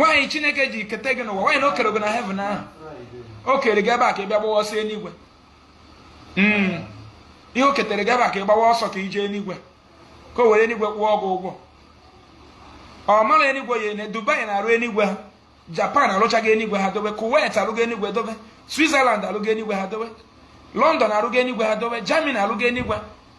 why chineke ji keta gị n'ụwa why na o kere gị na heaven ahụ o kere gị ebe a ka ị bịa gbawa ọsọ eluigwe hmm. ihe o ketere gị ebe a ka ị gbawa ọsọ ka i je eluigwe ka o were eluigwe kwụọ gị ụgwọ ọ mara eluigwe ya ene dubai na-arụ eluigwe ha japan alụchago eluigwe ha dobe kuwait alụgo eluigwe dobe switzerland alụgo eluigwe ha dobe london alụgo eluigwe ha dobe germany alụgo eluigwe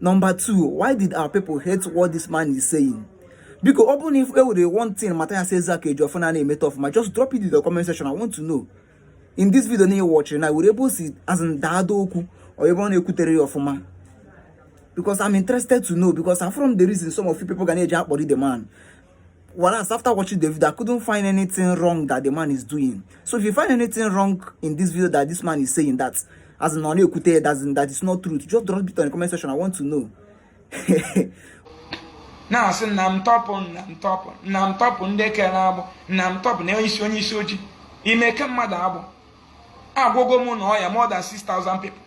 Number two, why did our people hate what this man is saying? Because ọ bụrụ na e nwere one thing Mathias Ezeaku Ejiofor na na-emeta ọfụma just drop it in the comment section I want to know in this video na watching na e nwere ebe o si azụ daada okwu or ebe ọ na-ekwuterọ ya ọfụma because I'm interested to know because afụrọ m the reason some of you people ga na-eji akpọrọ the man Whereas after watching the video, I couldn't find anything wrong that the man is doing. So if you find anything wrong in this video that this man is saying that, as in ọ na-ekwute, as in that is not true, just drop it on the comment section. I want to know. now, so na m tọpụ na m tọpụ na m tọpụ ndị e kere agbụ na m tọpụ na onyeisi onye isi ojii ime ke mmadụ agbụ agwọgo m n'ọya more than 6000 people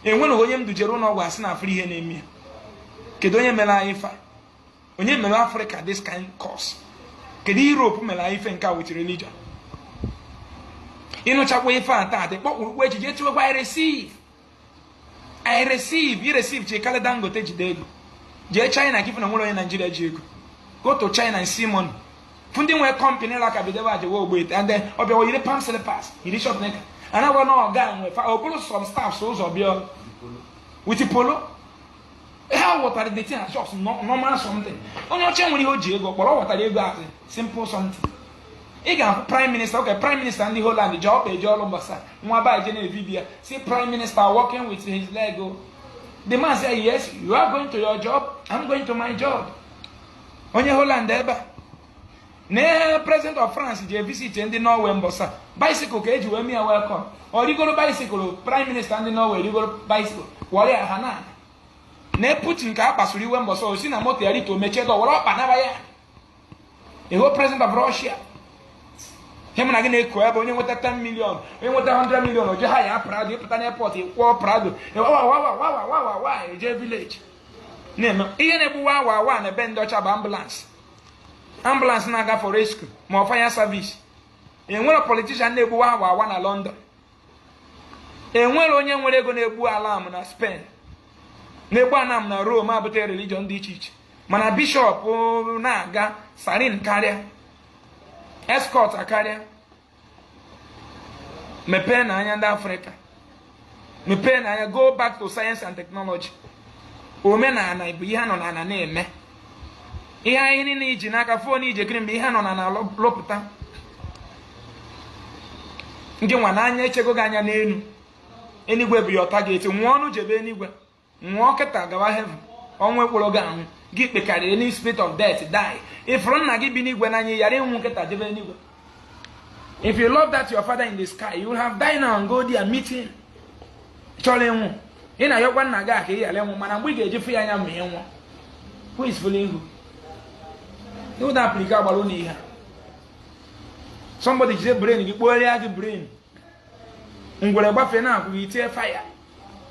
enwere onye m dujere ụlọ ọgwụ a sị na afụrọ ihe na-eme ya kedu onye mere anyị ife a onye mere afrịka this kind curse kedu europe mere anyị ife nke a with religion ị nụchakwa ife a taa ndị kpọkpụrụkpụ echiche chụwekwa i receive i receive i receive chi karịa dangote jide ego jee china ka ife na nwere onye naijiria ji ego go to china and see money fụ ndị nwere kọmpanị ụlọ aka bidobe ajewe ogbe and then ọ bịawa yiri palm slippers yiri short knicker a na-agwa na ọga nwe fa okporo some staffs ụzọ bịa with polo ha ghọtara the thing as just normal something onye ọcha enwere ihe o ji ego kpọrọ ọ ghọtara ego as simple something ị ga-ahụ prime minister okay prime minister ndị Holland ji ọkpa eje ọrụ mbọsa nwa ba eje na-evidio ya sị prime minister walking with his leg o oh. the man say yes you are going to your job I'm going to my job onye Holland ebe a na ihe president of france ji evisit ndị norway mbọsa bicycle ka e ji wee mee ya welcome ọ rigoro bicycle prime minister ndị norway rigoro bicycle wọrọ ya ha na-ana putin ka a kpasuru iwe mbọsa o si na moto ya rito mechie door were ọkpa naba ya bụ president of russia ihe mụ na gị na-akọ ebe onye nweta 10 million onye nweta 100 million o je hire prado ị pụta n'airport ị kwụọ prado wawawawawawawa eje village na-eme ihe na-egbu wawawa n'ebe ndị ọcha bụ ambulance ambulance na-aga for rescue ma ọ fire service enwere politician na-egbu wawawa na London enwere onye nwere ego na-egbu alarm na Spain na-egbu alarm na Rome e bute religion dị iche iche mana bishọp na-aga siren akarịa escort akarịa mepeenụ anya ndị africa mepeenụ anya go back to science and technology omenala bụ ihe nọ n'ala na-eme ihe a niile i ji n'aka phone i ji ekiri m bụ ihe nọ n'ala lụpụta ngị nwa a na-echego gị anya n'elu enigwe bụ your target nwụọnụ jebe enigwe nwụọ kịta gawa heaven ọnwụ a kpọrọ gị ọnwụ gị kpekarị any spirit of death die ị fụrụ nna gị bi n'igwe n'anya ị yara ịnwụ kịta jebe n'igwe if you love that your father in the sky you will have died now and go there and meet him ị chọrọ ịnwụ ị na-ayọkwa nna gị ka ị ghara ịnwụ mana mgbe ị ga-eji fụ ya anya ma ị nwụọ who is fooling who ị hụ na africa agbara ụlọ ihe somebody jide brain gị kpọgharịa gị brain ngwere gbafee n'ụkwụ gị i tie fire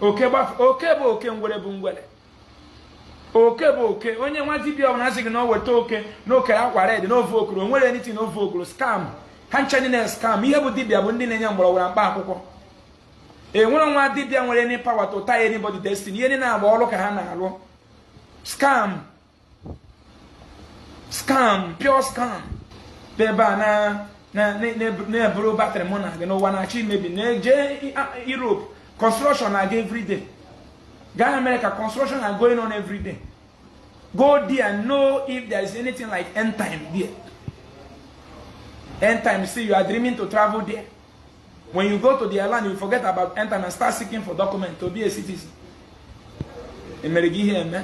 oke gbafee oke bụ oke ngwere bụ ngwere oke bụ oke onye nwa dibia ọbụla sị gị na o weta oke na o kere akwa red na ofe okoro o nwere anything na ofe okoro scam ha ncha niile scam ihe bụ dibia bụ ndị na-enye mgbọrọgwụ na mkpa akwụkwọ enwerọ nwa dibia nwere any power to tie anybody destiny ihe ndị na-agba ọrụ ka ha na-arụ scam scam pure scam ebe a na-ebubatara mụ na gị na ụwa na-achọ imebi na-eje Europe construction na-aga everyday gaa America construction na going on everyday go there and know if there is anything like end time there end time see you are dreaming to travel there when you go to the land you forget about end time and start seeking for document to be a citizen e mere gị ihe eme